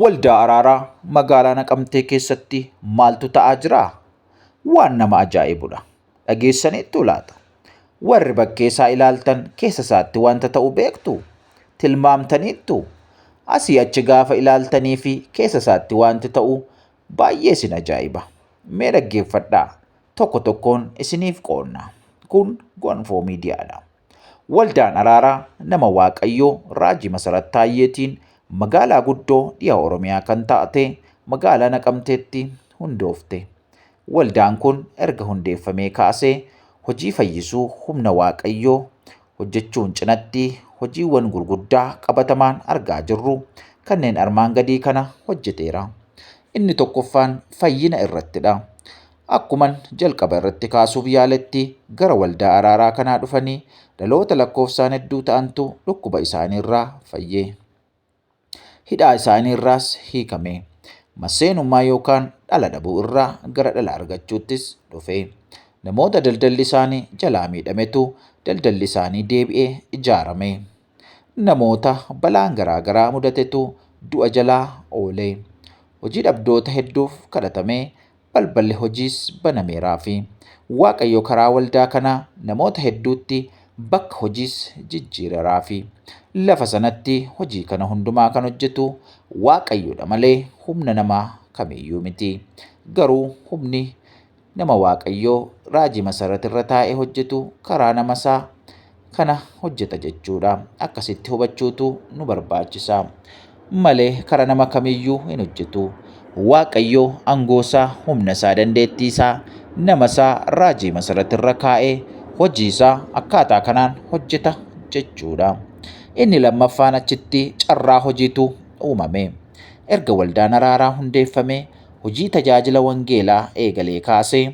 Waldaa Araaraa magaalaa Naqamtee keessatti maaltu ta'aa jira? Waan nama ajaa'ibudha. Dhageessaniittuu laata? Warri bakkee isaa ilaaltan keessa isaatti wanta ta'u beektu? Tilmaamtaniittu? Asii achi gaafa ilaaltanii fi keessa isaatti wanti ta'u baay'ee isin ajaa'iba. Mee dhaggeeffadhaa. Tokko tokkoon isiniif qoonna. Kun Gonfoo Miidiyaadha. Waldaan Araaraa nama Waaqayyoo Raajii Masarat Taayyeetiin magaalaa guddoo dhiha Oromiyaa kan taate magaalaa Naqamteetti hundoofte. Waldaan kun erga hundeeffamee kaasee hojii fayyisuu humna Waaqayyoo hojjechuun cinatti hojiiwwan gurguddaa qabatamaan argaa jirru kanneen armaan gadii kana hojjeteera. Inni tokkoffaan fayyina irrattidha. Akkuman jalqaba irratti kaasuuf yaaletti gara waldaa araaraa kanaa dhufanii dhaloota lakkoofsaan hedduu ta'antu dhukkuba isaanii irraa fayye. Hidhaa isaanii irraas hiikame. Masseenummaa yookaan dhala dhabuu irraa gara dhala argachuuttis dhufe. Namoota daldalli isaanii jalaa miidhametu daldalli isaanii deebi'ee ijaarame. Namoota balaan garaa garaa mudatetu du'a jalaa oole. Hojii dhabdoota hedduuf kadhatamee balballi hojiis banameeraafi. Waaqayyo karaa waldaa kanaa namoota hedduutti bakka hojiis jijjiireraafi. Lafa sanatti hojii kana hundumaa kan hojjetu Waaqayyodha malee humna namaa kamiyyuu miti. Garuu humni Nama Waaqayyoo raajii masarrat irra taa'e hojjetu karaa nama isaa kana hojjeta jechuudha. Akkasitti hubachuutu nu barbaachisa. Malee kara nama kamiyyuu hin hojjetu. Waaqayyoo angoosaa, humna isaa, dandeettii isaa, nama isaa raajii masarrat irra kaa'ee hojii isaa akkaataa kanaan hojjeta jechuudha. Inni lammaffaan achitti carraa hojiitu uumame. Erga waldaan araaraa hundeeffamee hojii tajaajila wangeelaa eegalee kaasee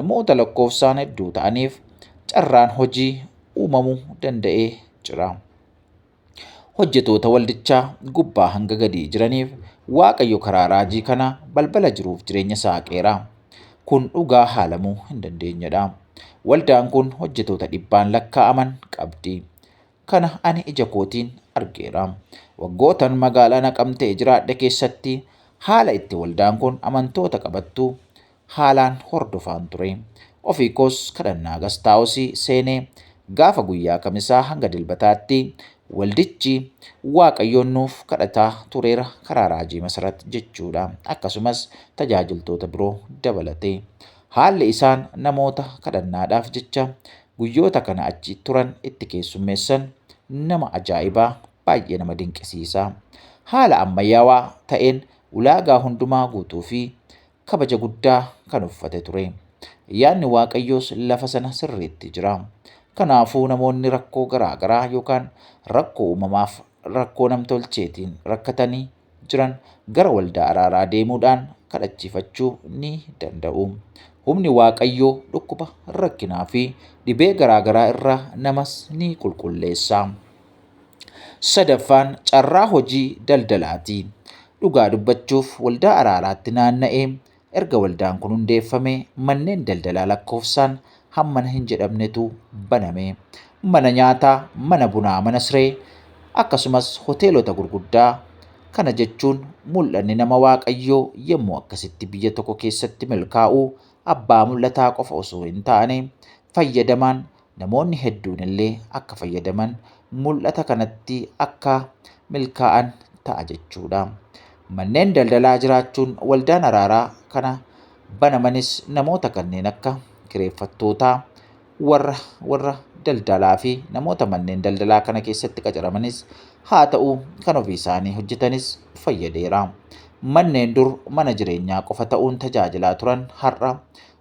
namoota lakkoofsaan hedduu ta'aniif carraan hojii uumamuu danda'ee jira. Hojjetoota waldichaa gubbaa hanga gadii jiraniif Waaqayyo karaa raajii kana balbala jiruuf jireenya saaqeera. Kun dhugaa haalamuu hin dandeenyedha. Waldaan kun hojjetoota dhibbaan lakkaa'aman qabdi. Kana ani ija kootiin argeera. Waggootan magaalaa Naqamtee jiraadhe keessatti haala itti waldaan kun amantoota qabattu haalaan hordofaan ture. Ofii koos kadhannaa gastaawosii seenee gaafa guyyaa kamisaa hanga dilbataatti waldichi waaqayyoon nuuf kadhataa tureera karaa raajii masarat jechuudha. Akkasumas tajaajiltoota biroo dabalatee. Haalli isaan namoota kadhannaadhaaf jecha guyyoota kana achi turan itti keessummeessan nama ajaa'ibaa baay'ee nama dinqisiisa. Haala ammayyaawaa ta'een ulaagaa hundumaa guutuu fi kabaja guddaa kan uffate ture. Yaadni Waaqayyoos lafa sana sirriitti jira. Kanaafuu namoonni rakkoo garaa garaa yookaan rakkoo uumamaaf rakkoo namtolcheetiin rakkatanii jiran gara waldaa araaraa deemuudhaan kadhachiifachuu ni danda'u. Humni Waaqayyoo dhukkuba, rakkinaa fi dhibee garaagaraa irraa namas ni qulqulleessa. Sadaffaan carraa hojii daldalaati. Dhugaa dubbachuuf waldaa araaraatti naanna'ee Erga waldaan kun hundeeffamee manneen daldalaa lakkoofsaan hammana hin jedhamnetu baname. Mana nyaataa, mana bunaa, mana siree akkasumas hoteelota gurguddaa kana jechuun mul'anni nama Waaqayyoo yommuu akkasitti biyya tokko keessatti milkaa'u abbaa mul'ataa qofa osoo hin taane fayyadamaan namoonni hedduun illee akka fayyadaman mul'ata kanatti akka milkaa'an ta'a jechuudha. Manneen daldalaa jiraachuun waldaan araaraa kana banamanis namoota kanneen akka kireeffattootaa, warra warra daldalaa fi namoota manneen daldalaa kana keessatti qacaramanis haa ta'u kan ofii isaanii hojjetanis fayyadeera. Manneen dur mana jireenyaa qofa ta'uun tajaajilaa turan har'a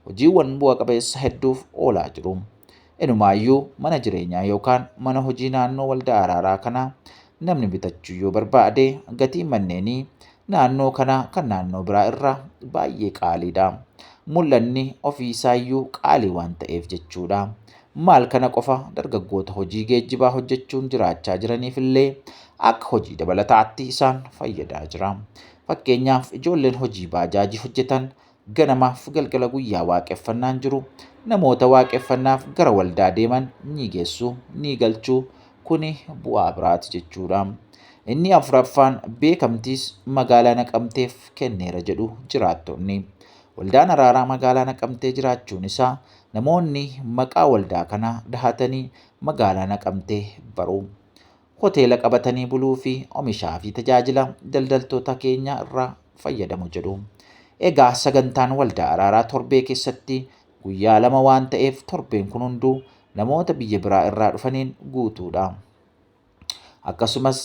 hojiiwwan bu'a qabeessa hedduuf oolaa jiru. Inumaayyuu mana jireenyaa yookaan mana hojii naannoo waldaa araaraa kanaa namni bitachuu yoo barbaade gatiin manneenii naannoo kanaa kan naannoo biraa irraa baay'ee qaaliidha. Mul'anni ofii isaayyuu qaalii waan ta'eef jechuudha. Maal kana qofa dargaggoota hojii geejjibaa hojjechuun jiraachaa jiraniif illee akka hojii dabalataatti isaan fayyadaa jira. Fakkeenyaaf ijoolleen hojii baajaajii hojjetan ganamaaf galgala guyyaa waaqeffannaan jiru namoota waaqeffannaaf gara waldaa deeman ni geessu ni galchu kuni bu'aa biraati jechuudha. Inni afuraffaan beekamtiis magaalaa naqamteef kenneera jedhu jiraattonni. Waldaan araaraa magaalaa naqamtee jiraachuun isaa namoonni maqaa waldaa kanaa dahatanii magaalaa naqamtee baru. hoteela qabatanii buluu fi omishaa fi tajaajila daldaltoota keenya irraa fayyadamu jedhu. Egaa sagantaan waldaa araaraa torbee keessatti guyyaa lama waan ta'eef torbeen kun hunduu namoota biyya biraa irraa dhufaniin guutuudha. Akkasumas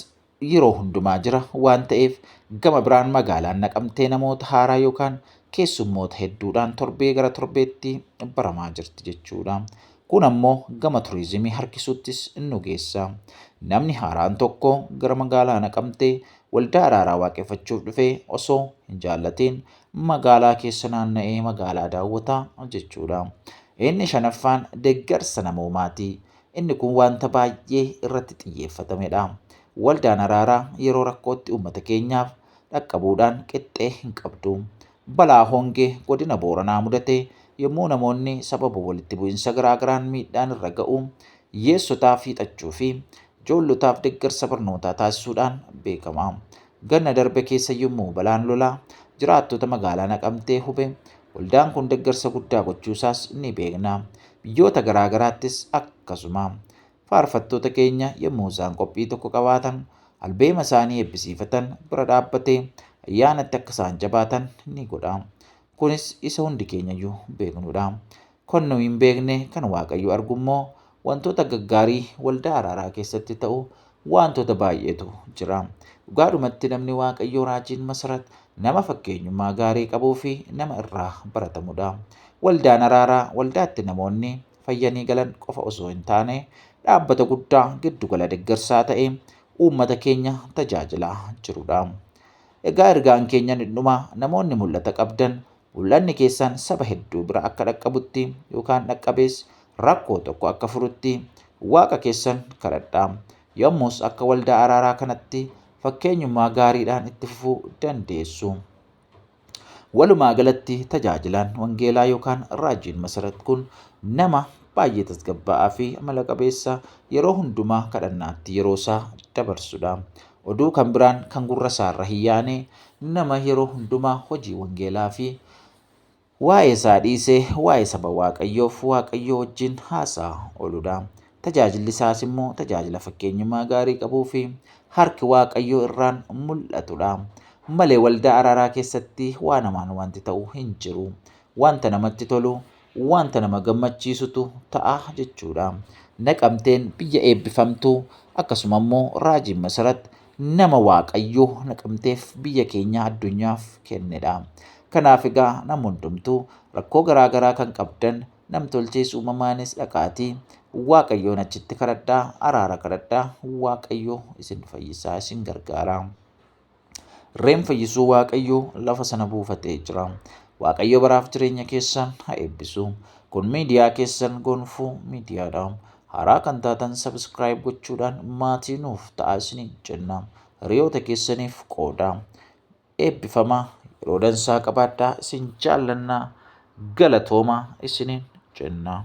yeroo hundumaa jira waan ta'eef gama biraan magaalaan naqamtee namoota haaraa yookaan keessummoota hedduudhaan torbee gara torbeetti baramaa jirti jechuudha. Kun ammoo gama turiizimii harkisuuttis nu geessa. Namni haaraan tokko gara magaalaa Naqamtee waldaa araaraa waaqeffachuuf dhufee osoo hin jaallatiin magaalaa keessa naanna'ee magaalaa daawwata jechuudha. Inni shanaffaan deeggarsa namoomaati. Inni kun wanta baay'ee irratti xiyyeeffatamedha. Waldaan araaraa yeroo rakkootti uummata keenyaaf dhaqqabuudhaan qixxee hin qabdu. Balaa hongee godina Booranaa mudate yommuu namoonni sababa walitti bu'insa garaa garaan miidhaan irra ga'u hiyyeessotaaf hiixachuu fi ijoollotaaf deggarsa barnootaa taasisuudhaan beekama. Ganna darbe keessa yommuu balaan lolaa jiraattota magaalaa Naqamtee hube waldaan kun deggarsa guddaa gochuusaas ni beekna. Biyyoota garaa garaattis akkasuma. faarfattoota keenya yommuu isaan qophii tokko qabaatan albeema isaanii eebbisiifatan bira dhaabbatee ayyaanatti akka isaan jabaatan ni godha. Kunis isa hundi keenyayyuu beeknudha. Kan nu hin beekne kan Waaqayyo argu immoo wantoota gaggaarii waldaa araaraa keessatti ta'u wantoota baay'eetu jira. Dhugaadhumatti namni Waaqayyoo raajiin Masarat nama fakkeenyummaa gaarii qabuu fi nama irraa baratamudha. Waldaan araaraa waldaatti namoonni fayyanii galan qofa osoo hin taane dhaabbata guddaa giddugala deggarsaa ta'e uummata keenya tajaajilaa jirudha. Egaa ergaan keenya ni dhuma namoonni mul'ata qabdan mul'anni keessan saba hedduu bira akka dhaqqabutti yookaan dhaqqabees rakkoo tokko akka furutti waaqa keessan kadhadha. Yommus akka waldaa araaraa kanatti fakkeenyummaa gaariidhaan itti fufuu dandeessu. Walumaa galatti tajaajilaan wangeelaa yookaan raajiin Masarat kun nama baay'ee tasgabbaa'aa fi amala qabeessa yeroo hundumaa kadhannaatti yeroo isaa dabarsudha. Oduu kan biraan kan gurra isaarra hin yaane nama yeroo hundumaa hojii wangeelaa fi Waa'ee isaa dhiisee waa'ee saba Waaqayyoof Waaqayyoo wajjin haasa'aa ooludha. Tajaajilli isaas immoo tajaajila fakkeenyummaa gaarii qabuu fi harki Waaqayyoo irraan mul'atudha. Malee waldaa araaraa keessatti waa namaan wanti ta'u hin jiru. Wanta namatti tolu, wanta nama gammachiisutu ta'a jechuudha. Naqamteen biyya eebbifamtuu akkasuma immoo raajiin masarat nama Waaqayyo Naqamteef biyya keenya addunyaaf kennedha. Kanaaf egaa nam hundumtuu rakkoo garaa garaa kan qabdan namtolchees uumamaanis dhaqaatii Waaqayyoon achitti kadhadhaa araara kadhadhaa Waaqayyo isin fayyisaa isin gargaara. Reen fayyisuu Waaqayyo lafa sana buufatee jira. Waaqayyo baraaf jireenya keessan haa eebbisu. Kun miidiyaa keessan gonfuu miidiyaadha. Haaraa kan taatan subscribe gochuudhaan maatii nuuf ta'aa isiniin jenna. Hiriyoota keessaniif qoodaa. Eebbifamaa yeroo dansaa qabaadhaa isin jaallannaa galatoomaa isiniin jenna.